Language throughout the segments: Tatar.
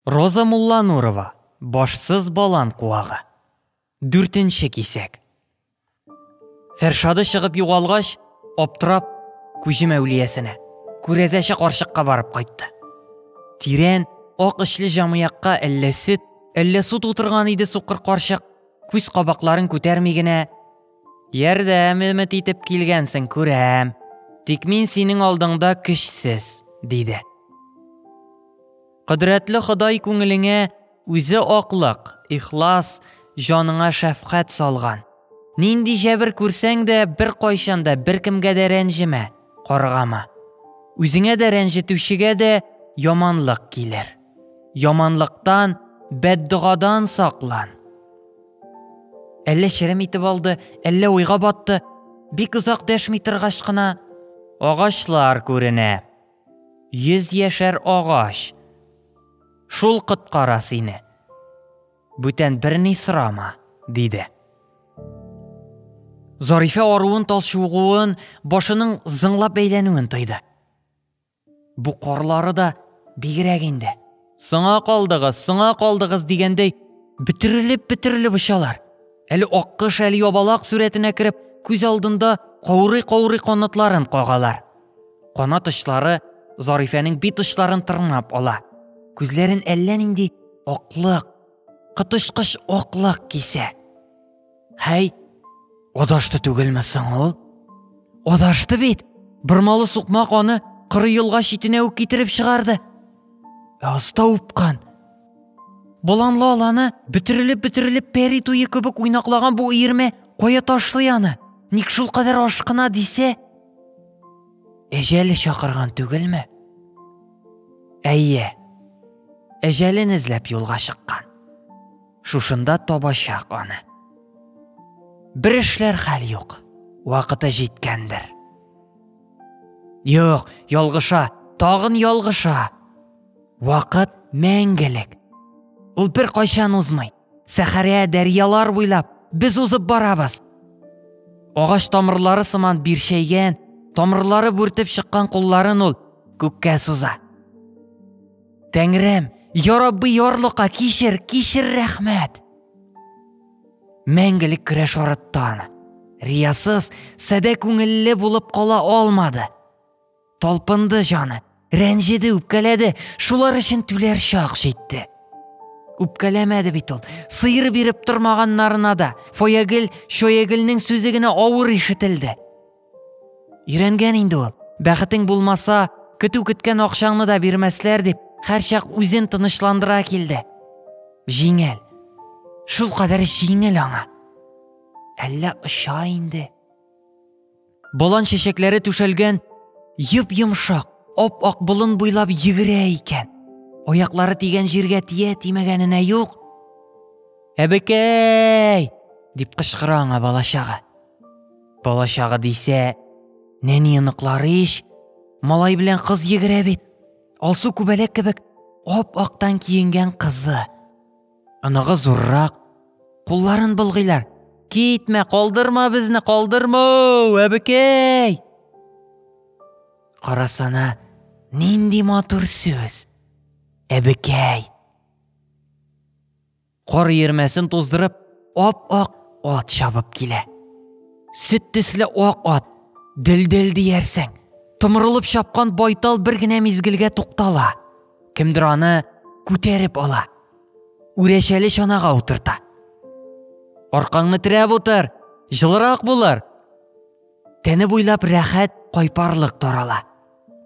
Роза Мулланурова, Башсыз балан куагы. Дүртенче кисәк. Фәршады чыгып югалгач, аптырап, күҗем әүлиясенә, күрәзәче карчыкка барып кайтты. Тирән, ак эчле җамыякка әллә сөт, әллә су тутырган иде сукыр карчык, күз кабакларын күтәрми генә, Ярдәм өмет итеп килгәнсең, күрәм. Тик мин синең алдыңда көчсез, диде. Кодрәтле Ходай күңелеңә Үзе аклык, ихлас, җаныңа шәфкать салган. Нинди җәбер күрсәң дә, беркайчан да беркемгә дә рәнҗемә, каргама. Үзеңә дә рәнҗетүчегә дә яманлык килер. Яманлыктан, бәддогадан саклан. Әллә черем итеп алды, әллә уйга батты. Бик озак дәшми торгач кына, Агачлар күренә, Йөз яшәр агач. Шул коткара сине. Бүтән берни сорама, диде. Зарифә аруын талчугуын, башының зыңлап бәйләнүен тойды. Бу карлары да бигрәк инде. Соңа калдыгыз, соңа калдыгыз дигәндәй, бөтерелеп-бөтерелеп очалар. Әле аккош, әле ябалак сурәтенә кереп, күз алдында каурый-каурый канатларын кагалар. Канат очлары Зарифәнең бит очларын тырнап ала. Күзләрен әллә нинди аклык, коточкыч аклык кисә. Һәй, адашты түгелме соң ул? Адашты бит. Бормалы сукмак аны кыры елга читенә үк китереп чыгарды. Аста упкан. Боланлы аланы бөтерелеп-бөтерелеп пәри туе кебек уйнаклаган бу иерме кая ташлый аны? Ник шул кадәр ашкына дисә? Әҗәле чакырган түгелме? Әйе. Әҗәлен эзләп юлга чыккан. Шушында табачак аны. Бер эшләр хәл юк. Вакыты җиткәндер. Юк, ялгыша, тагын ялгыша. Вакыт мәңгелек. Ул бер кайчан узмый. Сәхәрә дәрьялар буйлап без узып барабыз. Агач тамырлары сыман бирчәйгән, тамырлары бүртеп чыккан кулларын ул күккә суза. Тәңрем, ярабби ярлыка кишер, кишер рәхмәт. Мәңгелек көрәш арыттан. Риясыз, сәдә күңелле булып кала алмады. Талпынды жаны, рәнҗеде, үпкәләде, шулар өчен түләр чак җитте. Үпкәләмәде бит ул, сыйыр биреп тормаганнарына да. Фоягел, шоягелнең сүзе генә авыр ишетелде. Өйрәнгән инде ул. Бәхетең булмаса, көтү көткән акчаңны да бирмәсләр дип, һәрчак үзен тынычландыра килде. Җиңел. Шул кадәр җиңел аңа. Әллә оча инде. Болан чәчәкләре түшәлгән йып-йомшак, ап-ак болын буйлап йөгерә икән. Аяклары тигән җиргә тия тимәгәненә юк. Әбекәй! дип кычкыра аңа балачагы. Балачагы дисә, нәни оныклары ич, малай белән кыз йөгерә бит. Алсу күбәләк кебек ап-актан киенгән кызы. Оныгы зуррак, кулларын болгыйлар. Китмә, калдырма безне, калдырма, әбекәй! Карасана, нинди матур сүз. Әбекәй. Кар ермәсен туздырып, ап-ак ат чабып килә. Сөт төсле ак ат, дел-дел диярсең. Томырылып чапкан байтал бер генә мизгелгә туктала. Кемдер аны күтәреп ала. Үрәчәле чанага утырта. Аркаңны терәп утыр, жылырак булыр. Тәне буйлап рәхәт кайпарлык тарала.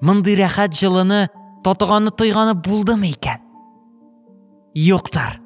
Мондый рәхәт җылыны татыганы тойганы булдымы икән? Юктыр.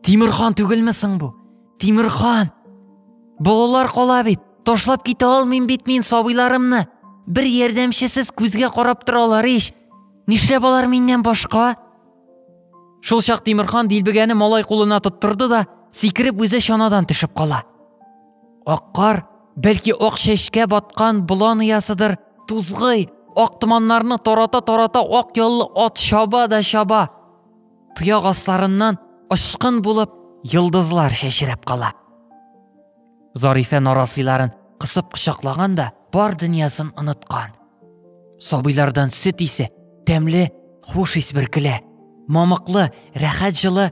Тимирхан түгелме соң бу? Тимирхан! Балалар кала бит, ташлап китә алмыйм бит мин сабыйларымны. Бер ярдәмчесез күзгә карап торалар ич. Нишләп алар миннән башка? Шул чак Тимирхан дилбегәне малай кулына тоттырды да, сикереп үзе чанадан төшеп кала. Ак кар, бәлки ак чәчкә баткан болан оясыдыр, тузгый, ак томаннарны тарата-тарата ак яллы ат чаба да чаба. Тояк асларыннан ышкын булып йолдызлар чәчрәп кала. Зарифә нарасыйларын кысып кочаклаган да бар дөньясын оныткан. Сабыйлардан сөт исе, тәмле, хуш ис бөркелә. Мамыклы, рәхәт җылы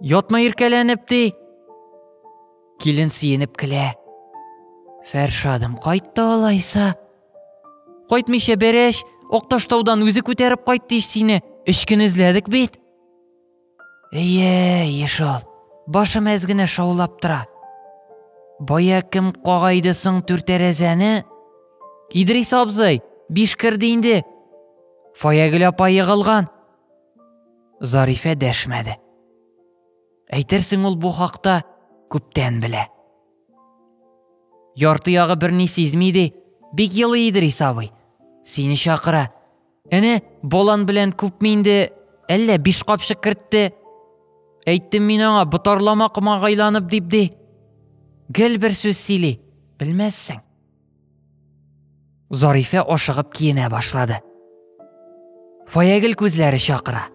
Ятма иркәләнеп, ди. Килен сөенеп көлә. Фәршадым, кайтты алайса. Кайтмыйча берәш, Акташтаудан үзе күтәреп кайтты ич сине. Өч көн эзләдек бит. Әйе, еш ул. Башым әз генә шаулап тора. Бая кем кагайды соң түртәрәзәне? Идрис абзый, биш керде инде. Фаягөл апа егылган. Зарифә дәшмәде. Әйтерсең ул бу хакта күптән белә. Ярты ягы берни сизми ди, бик елы Идрис абый. Сине чакыра. Әнә болан белән күпме инде әллә биш капчык кертте. Әйттем мин аңа ботарлама комагайланып дип ди. Гел бер сүз сөйли, белмәссең. Зарифә ашыгып киенә башлады. Фаягел күзләре чакыра.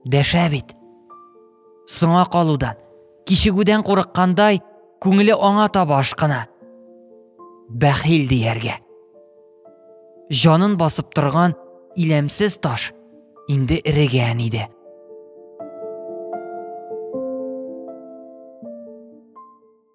Дәшә бит. Соңа калудан, кичегүдән курыккандай, күңеле аңа таба ашкына. Бәхил дияргә. Җанын басып торган иләмсез таш инде эрегән иде.